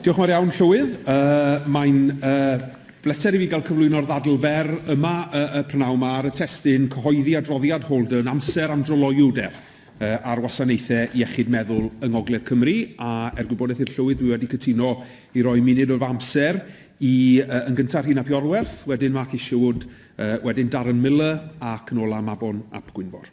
Diolch yn fawr iawn, Llywydd. Yy, mae'n yy, bleser i fi gael cyflwyno'r ddadl fer yma y, y prynawn ma ar y testun cyhoeddi adroddiad Holden amser am dryloyw der yy, ar wasanaethau iechyd meddwl yng Ngogledd Cymru, a er gwybodaeth i'r Llywydd, dwi wedi cytuno i roi munud o fy amser i yy, yn gyntaf Rhun ap Iorwerth, wedyn Mark Isherwood, yy, wedyn Darren Millar ac yn ola Mabon ap Gwynfor.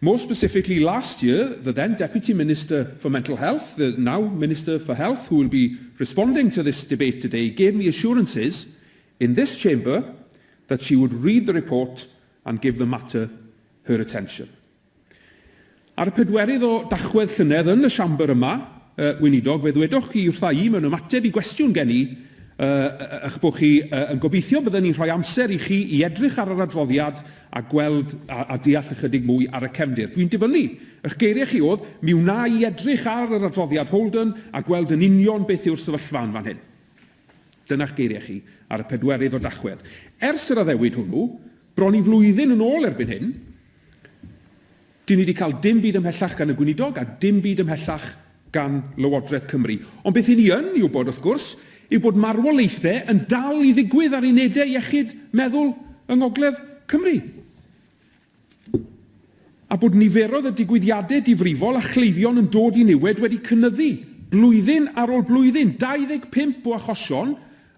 More specifically, last year, the then Deputy Minister for Mental Health, the now Minister for Health who will be responding to this debate today, gave me assurances in this Chamber that she would read the report and give the matter her attention. Ar y pedwerydd o Dachwedd llynedd yn y Siambr yma, uh, Weinidog, fe ddwedoch chi wrtha i mewn ymateb i gwestiwn gen i uh, eich bod chi uh, yn gobeithio bydden ni'n rhoi amser i chi i edrych ar yr adroddiad a gweld a a deall ychydig mwy ar y cefndir. Dwi'n dyfynnu, ych geiriau chi oedd, mi wna i edrych ar yr adroddiad Holden a gweld yn union beth yw'r sefyllfa yn fan hyn. Dyna'ch geiriau chi ar y pedwerydd o Dachwedd. Ers yr addewid hwnnw, bron i flwyddyn yn ôl erbyn hyn, Dyn ni 'di cael dim byd ymhellach gan y Gweinidog a dim byd ymhellach gan Lywodraeth Cymru. Ond beth 'yn ni yn ei wybod, wrth gwrs, yw bod marwolaethau yn dal i ddigwydd ar unedau iechyd meddwl yng Ngogledd Cymru a bod niferoedd y digwyddiadau difrifol a chleifion yn dod i niwed wedi cynyddu blwyddyn ar ôl blwyddyn, 25 o achosion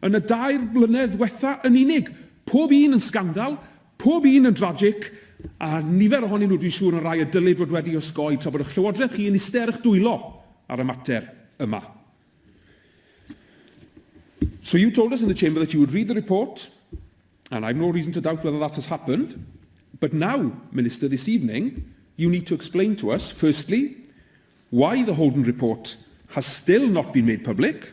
yn y dair blynedd ddiwetha' yn unig, pob un yn sgandal, Pob un yn dragic, a nifer ohonyn nhw dwi'n siŵr yn rai y dylid fod wedi osgoi tra bod y'ch Llywodraeth chi yn iste ar y'ch dwylo ar y mater yma. So you told us in the Chamber that you would read the report, and I've no reason to doubt whether that has happened, but now, Minister, this evening, you need to explain to us, firstly, why the Holden report has still not been made public,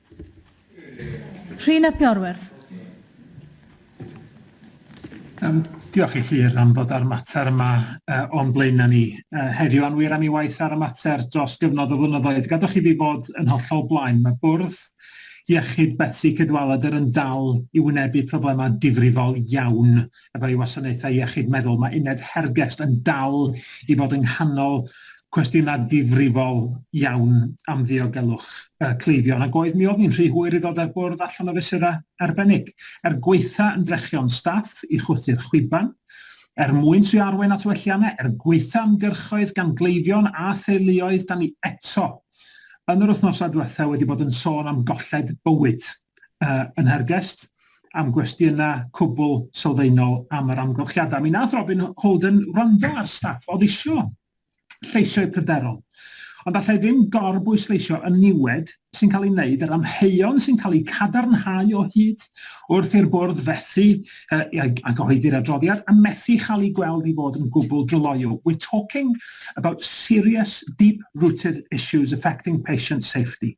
Rhun ap Iorwerth. Yym, diolch i Llyr am ddod â'r mater yma uh, o'n blaenau ni uh, heddiw a'n wir am ei waith ar y mater dros gyfnod o flynyddoedd. Gadwch i fi fod yn hollol blaen. Mae bwrdd iechyd Betsi Cadwaladr yn dal i wynebu problemau difrifol iawn efo ei wasanaethau iechyd meddwl, mae uned Hergest yn dal i fod yng nghanol cwestiynau difrifol iawn am ddiogelwch uh, cleifion, ac oedd mi oedd ni'n rhy hwyr i ddod ar bwrdd allan o fesurau arbennig. Er gweitha yn drechion staff i chwythu'r chwiban, er mwyn tri arwain at welliannau, er gweitha ymgyrchoedd gan gleifion a theuluoedd, da ni eto yn yr wythnosau diwethaf wedi bod yn sôn am golled bywyd uh, yn Hergest, am gwestiynau cwbl sylfaenol am yr amgylchiadau. Mi nath Robin Holden wrando ar staff oedd isio lleisio'u pryderon. Ond allai ddim gorbwysleisio y niwed sy'n cael ei wneud, yr amheuon sy'n cael eu cadarnhau o hyd wrth i'r bwrdd fethu uh, a gyhoeddi'r adroddiad a methu chael ei gweld i fod yn gwbl dryloyw. We're talking about serious, deep-rooted issues affecting patient safety.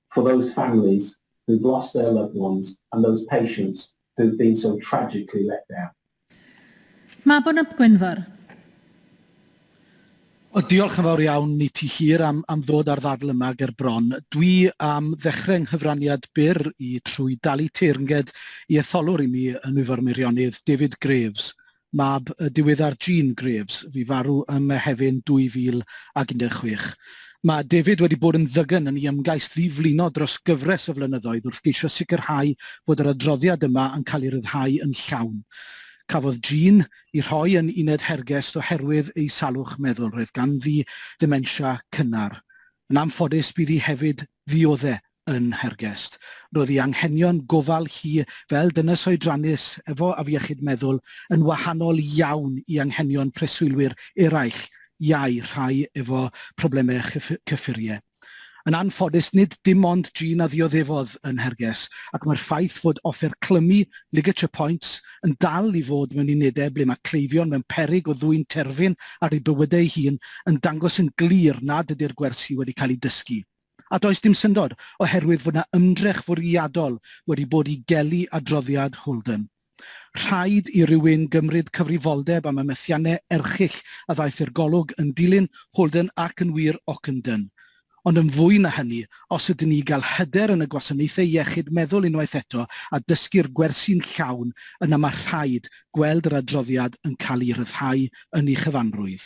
for those families who've lost their loved ones and those patients who've been so tragically let down. Mabon ap Gwynfor. O, diolch yn fawr iawn i ti Llyr am, am ddod â'r ddadl yma ger bron. Dwi am ddechrau nghyfraniad byr i trwy dalu teyrnged i etholwr i mi yn Ifor Meirionydd, David Graves, mab y diweddar Jean Graves, fu farw ym Mehefin 2016. Mae David wedi bod yn ddygn yn ei ymgais ddi-flino dros gyfres o flynyddoedd wrth geisio sicrhau bod yr adroddiad yma yn cael ei ryddhau yn llawn. Cafodd Jean i rhoi yn uned Hergest oherwydd ei salwch meddwl, roedd ganddi ddementia cynnar. Yn anffodus, bydd hi hefyd ddiodde' yn Nhergest. Roedd ei anghenion gofal hi fel dynes oedrannus efo afiechyd meddwl yn wahanol iawn i anghenion preswylwyr eraill, iau, rhai efo problemau cyffuriau. Yn anffodus, nid dim ond Jean a ddioddefodd yn Nherges, ac mae'r ffaith fod offer clymu ligature points yn dal i fod mewn unedau ble mae cleifion mewn peryg o ddwyn terfyn ar eu bywydau eu hun yn dangos yn glir nad ydy'r gwersi wedi cael eu dysgu A does dim syndod, oherwydd fod yna ymdrech fwriadol wedi bod i gelu adroddiad Holden. Rhaid i rywun gymryd cyfrifoldeb am y methiannau erchyll a ddaeth i'r golwg yn dilyn Holden ac yn wir Ockenden. Ond yn fwy na hynny, os ydyn ni i gael hyder yn y gwasanaethau iechyd meddwl unwaith eto a dysgu'r gwersi'n llawn, yna mae rhaid gweld yr adroddiad yn cael ei ryddhau yn ei chyfanrwydd.